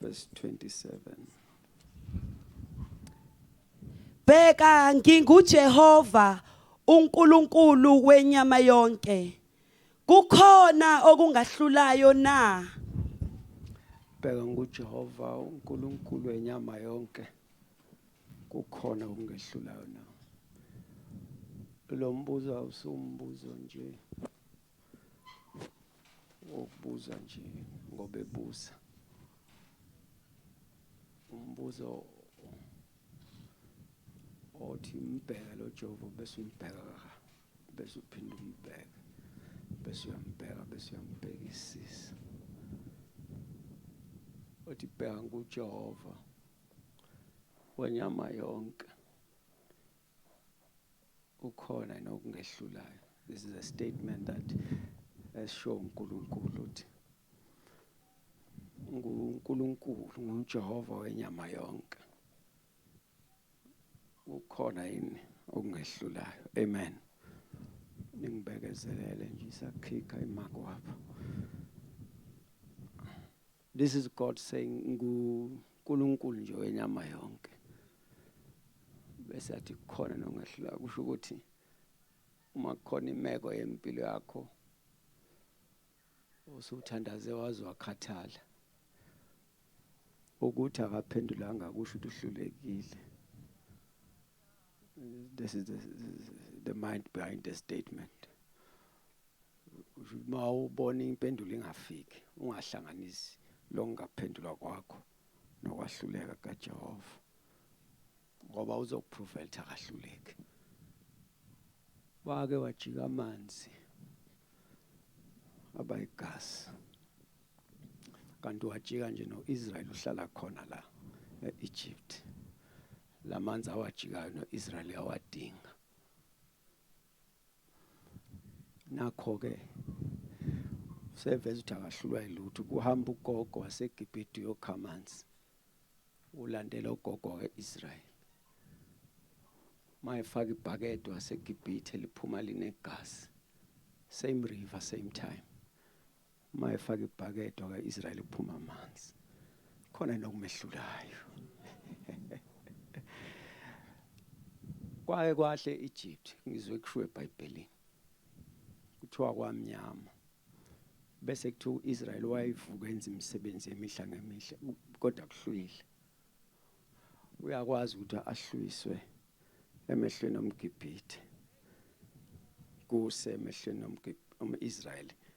verse 27 Bheka nginguJehova uNkulunkulu wenyama yonke kukhona okungahlulayo na Bheka nguJehova uNkulunkulu wenyama yonke kukhona okungehlulayo na Lo mbuzo awusumbuzo nje ngokubuza nje ngoba ebuza umbuzo othi umbheke lo Jehova bese umbheka bese uphinde umbheke bese uyambheka bese uyambhekisisa othi bheka nguJehova wenyama yonke kukhona yini okungehlulayo this is a statement that esho uNkulunkulu uthi nguNkulunkulu nguJehova wenyama yonke ukhona yini okungehlulayo amen ningibekezelele nje isakhikha imakwapha This is God saying nguNkulunkulu nje wenyama yonke. Bese athi khona nongehlula kusho ukuthi uma kukhona imeko yempilo yakho usuthandaze waze wakhathala ukuthi akaphendulanga kusho ukuthi uhlulekile This is the, the mind behind the statement. Uma ubona impendulo ingafiki, ungahlanganisi lokungaphendulwa kwakho nokwahluleka kaJehova. Ngoba uzokuprova ukuthi akahluleki. Wake wajika amanzi abayigasi. Kanti wajika nje noIsrael uhlala khona la eEgypt. lamanzi awajikayo noIsrael yawadinga nakho ke useveza ukuthi akahlulwa yilutho kuhamba ugogo waseGibhithe uyokha amanzi ulandela ugogo weIsrael mayefaka ibhakede waseGibhithe liphuma linegazi same river same time Uma efaka ibhakede waka-Israyeli kuphuma amanzi. Khona yini okumehlulayo? Kwaye kwahle e-Egypt ngizwe kushiwo eBhayibhelini. Kuthiwa kwamnyama. Bese kuthiwa u-Israyeli wayevuka enza imisebenzi emihla ngemihle kodwa kuhlwile. Uyakwazi ukuthi ahlwiswe emehlweni omGibhithe. Kuse emehlweni omGibhithe. Uma Israel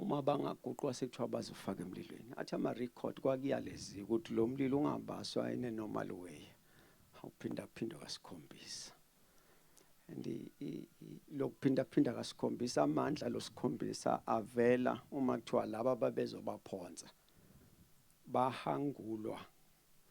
uma bangaguqwa sekuthiwa bazofaka emlilweni athi ama-record kwakuyaleziwa ukuthi lo mlilo ungabaswa in a normal way awuphindaphindwa kasikhombisa and lokuphindaphinda kasikhombisa amandla losikhombisa avela uma kuthiwa laba babezobaphonsa bahangulwa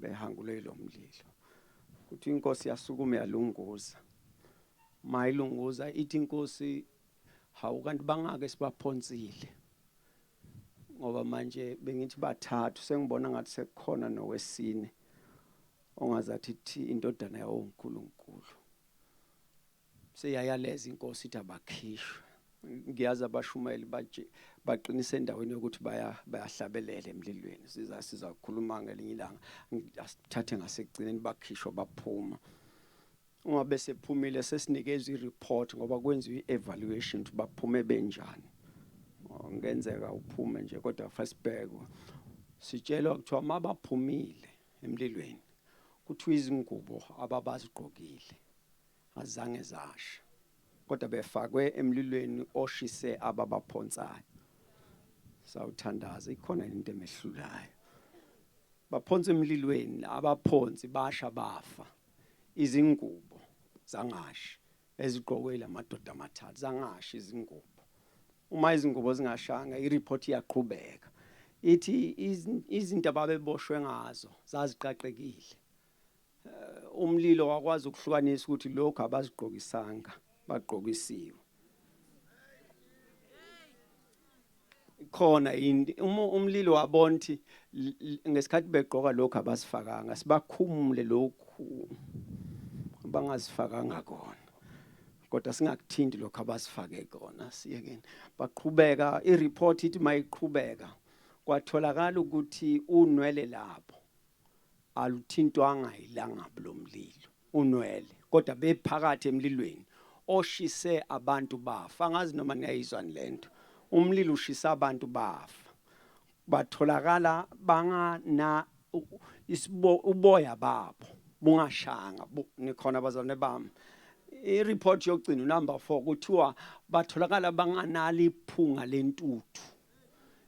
behangule lo mlilo kuthi inkosi yasukuma yalunguza mayilunguza ithi inkosi hawu kanti bangake sibaphonsile ngoba manje bengithi bathathu sengibona ngathi sekukhona nowesine ongazathi thi indodana yawonkulunkulu Seyayaleza inkosi ithi abakhishwe. Ngiyazi abashumayeli baje baqinise endaweni yokuthi baya bayahlabelela emlilweni. Siza siza kukhuluma ngelinye ilanga. Asithathe ngasekugcineni bakhishwa baphuma. Uma bese phumile sesinikezwe ireport ngoba kwenziwe i-evaluation ukuthi baphume benjani. Ngenzeka uphume nje kodwa fasibhekwa. Sitshelwa kuthiwa mabaphumile emlilweni kuthiwa izingubo ababazigqokile azange zasha kodwa befakwe emlilweni oshise ababaphonsayo sawuthandaza ikhona into emehlulayo baphonsa emlilweni abaphonsi basha bafa izingubo zangashi ezigqokwe lamadoda amathathu zangashi izingubo uma izingubo zingashanga ireport iyaqhubeka ithi izinto ababeboshwe ngazo zaziqaqekile Eh, umlilo wakwazi ukuhlukanisa ukuthi lokho abazigqokisanga bagqokisiwe khona yini umlilo wabona ukuthi ngesikhathi begqoka lokho abasifakanga sibakhumule lokhu bangazifakanga kona kodwa singakuthinti lokho abasifake kona siyekeni baqhubeka i-report ithi mayiqhubeka kwatholakala ukuthi unwele lapho aluthintwanga yilangabi lomlilo, unwele, kodwa bephakathi emlilweni oshise abantu bafa. Angazi noma niyayizwani le nto, umlilo ushisa abantu bafa, batholakala bangana uboya babo bungashanga, nikhona bazalwane bami ireport yokugcina unumber 4 kuthiwa batholakala banganalo iphunga lentuthu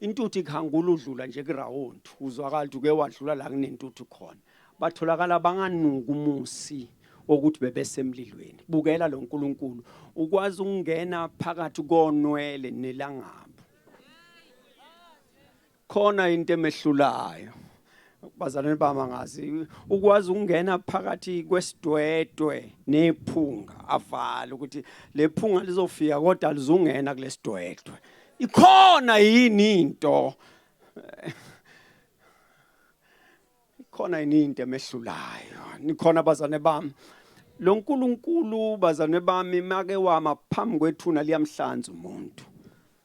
intuthu ikhangula udlula nje kurawundi uzwakala ukuthi uke wadlula la kunentuthu khona batholakala banganuka umusi wokuthi bebesemlilweni bukela lo nkulunkulu ukwazi ukungena phakathi konwele nelangabu khona into emehlulayo bazalwane bami angazi ukwazi ukungena phakathi kwesidwedwe nephunga avala ukuthi lephunga lizofika kodwa lizungena kulesidwedwe ikhona yini into ikhona yini into emehlulayo nikhona bazane bami lo nkulunkulu bazane bami make wama phambi kwethuna liyamhlanza umuntu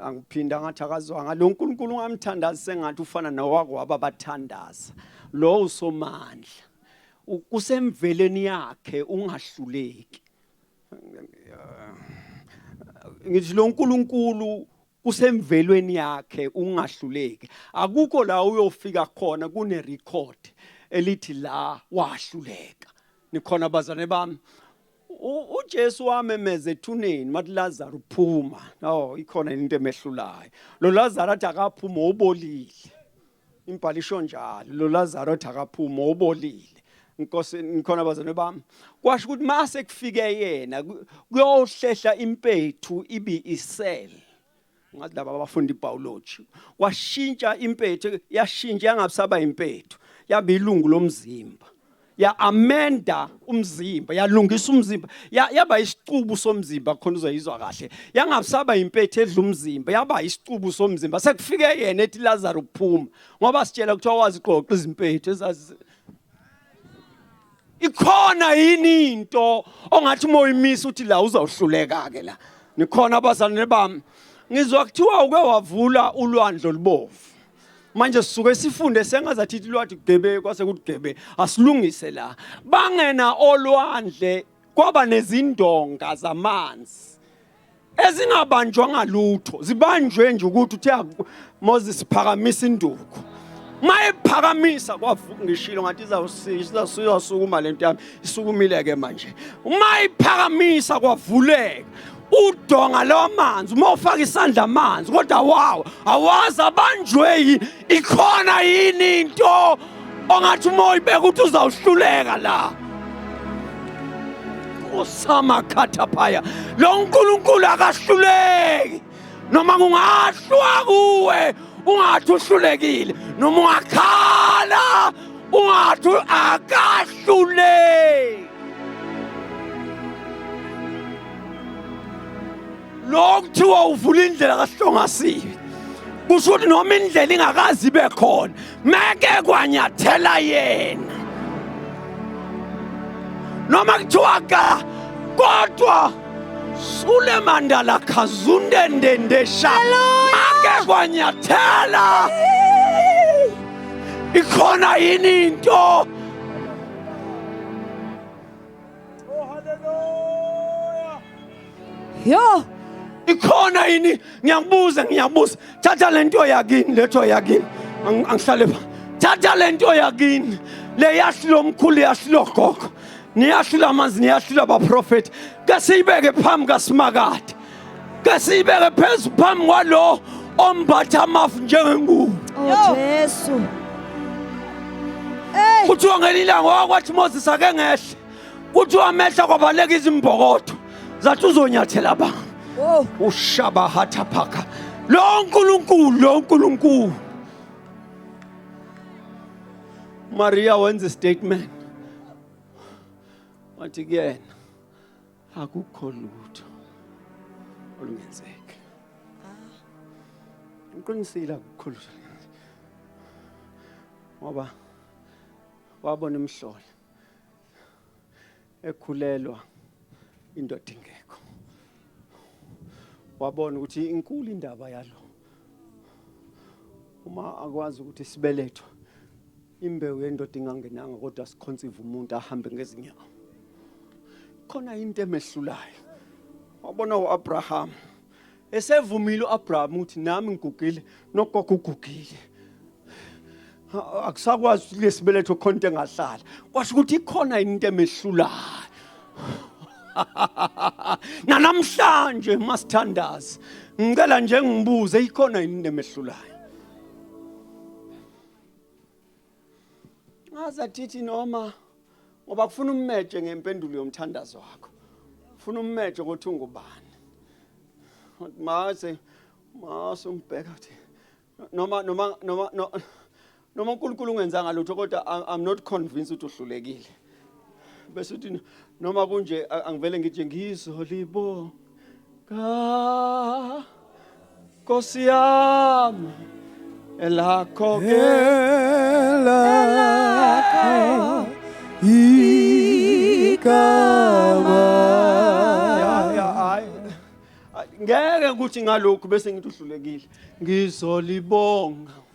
angiphinda ngathi akazwanga lo nkulunkulu ungamthandazi sengathi ufana nowakwaba bathandaza lo usomandla kusemveleni yakhe ungahluleki ngithi lo nkulunkulu kusemvelweni yakhe ungahluleki akukho la uyofika khona kune record elithi la wahluleka nikhona bazane bami uJesu wamemeza ethuneni wathi Lazaro phuma no ikhona into emehlulayo lo Lazaro athi akaphuma obolile imbhalisho njalo lo Lazaro athi akaphuma obolile inkosi ngikhona bazalwane bami kwasho ukuthi mase kufike yena kuyohlehla impethu ibi isel ngathi laba abafunda ibhiology washintsha impethu yashintsha yangabisaba impethu yaba ilungu lomzimba ya amenda umzimba yalungisa umzimba yaba isicubu somzimba khona uzoyizwa kahle yangabisaba impethu edla umzimba yaba isicubu somzimba sekufike yena ethi Lazaro phuma ngoba sitshela ukuthi wawazi qoqa izimpethu ezazi ikhona yini into ongathi uma uyimisa uthi la uzawuhluleka ke la nikhona abazalwane bami ngizwa kuthiwa uke wavula ulwandle olubovu manje sisuke sifunde sengazathi ilwathi kugebe kwase kugebe asilungise la bangena olwandle kwaba nezindonga zamanzi ezingabanjwa ngalutho zibanjwe nje ukuthi uthe Moses phakamisa induku mayephakamisa kwavungishilo ngathi izawusisha siyasukuma lento yami isukumile ke manje mayiphakamisa kwavuleka udonga lamanzi uma ufaka isandla amanzi kodwa wawo awazi abanjwe ikhona yini into ongathi uma uyibeka ukuthi uzawuhluleka la usamakhatha phaya lo nkulunkulu akahluleki noma kungahlwa kuwe ungathi uhlulekile noma ungakhala ungathi akahluleki lo kuthiwa uvula indlela kahlongasiwe kusho ukuthi noma indlela ingakazi ibe khona meke kwanyathela yena noma kuthiwa ka kodwa sule mandala khazunde ndendesha make kwanyathela ikhona yini into Oh hallelujah. Yo. Ikhona yini? Ngiyakubuza, ngiyabuza. Thatha lento yakini, letho yakini. Angihlale pha. Thatha lento yakini. Le yasilo mkhulu yasilo gogo. Niyasilo amanzi, niyasilo abaprofeti. Ke siyibeke phambi kaSimakade. ke siyibeke phezu phambi kwalo ombatha amafu njengengubo Oh Jesu. Hey, kuthiwa ngelinye ilanga wakwathi moses ake ngehle kuthiwa amehla kwabaleka izimbokotho zathi uzonyathela ba oh, ushabahatha phaka lo nkulunkulu lo nkulunkulu maria wenza istatement wathi kuyena akukho lutho olungenzeka ngiqinisile akukho lutho ngoba wabona imhlola ekhulelwa indoda ingekho wabona ukuthi inkulu indaba yalo uma akwazi ukuthi sibeletho Imbewu yendoda ingangenanga kodwa sikhonsiva umuntu ahambe ngezinyawo. Khona into emehlulayo. Wabona uAbraham. Esevumile uAbraham ukuthi nami ngigugile nogogo ugugile. Akusakwazi ukuthi lesibeletho khona into engahlala. Kwasho ukuthi ikhona into emehlulayo. Nanamhlanje masithandaza. Ngicela nje ngibuze ikhona into emehlulayo. ngaza thithi noma ngoba kufuna ummeje ngempendulo yomthandazo wakho funa ummeje ukuthi ungubani maze mase umbheka ukuthi noma noma noma noma uNkulunkulu ungenzanga lutho kodwa i'm not convinced ukuthi uhlulekile bese uthi noma kunje a- angivele ngije ngizolibo ka Nkosi yami elakho ke Elakho igama. ya ya hayi Ay, ngeke ukuthi ngalokhu bese ngithi uhlulekile ngizolibonga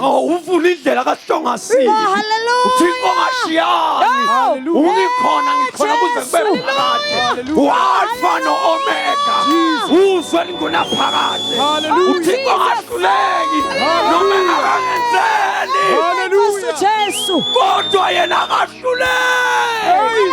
Oh, uvula indlela kahlongasini Oh, hallelujah. uthixo ngashiyani Hallelujah. ungikhona ngikhona kuze kube phakade walfa no-omega uzwe lingunaphakade Hallelujah. uthixo ngahluleki noma engakangenzeli Hallelujah. Jesu. kodwa yena akahluleki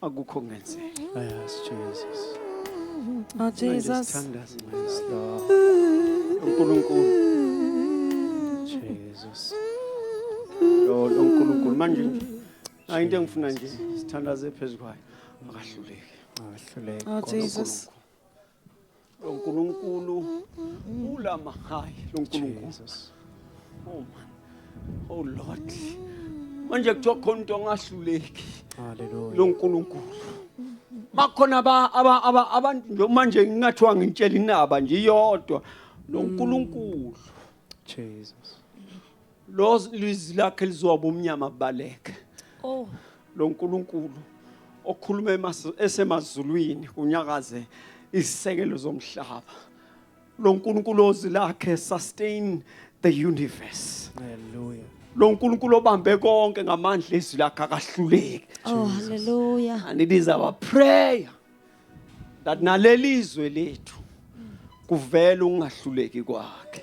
akukho kungenzeki yes jesus oh jesus thandaza yes lord uNkulunkulu jesus lo uNkulunkulu manje nje hayi into engifuna nje sithandaze phezukwayo akahluleki akahluleki oh jesus Lo Nkulunkulu ulama high lo Nkulunkulu. Jesus. Oh man. Oh Lord. Manje kuthiwa khona umuntu ongahluleki. Hallelujah. Lo Nkulunkulu. Bakhona ba aba aba abantu nje manje ngingathiwa ngintshela inaba nje iyodwa. Lo Nkulunkulu. Jesus. lo lizwi lakhe lizoba umnyama baleke oh lo nkulunkulu okhuluma emas- esemazulwini kunyakaze izisekelo zomhlaba lo nkulunkulu ozwi lakhe sustain the universe Hallelujah. lo nkulunkulu obambe konke ngamandla ezwi lakhe akahluleki oh hallelujah and it is our prayer that nalelizwe lethu kuvela ukungahluleki kwakhe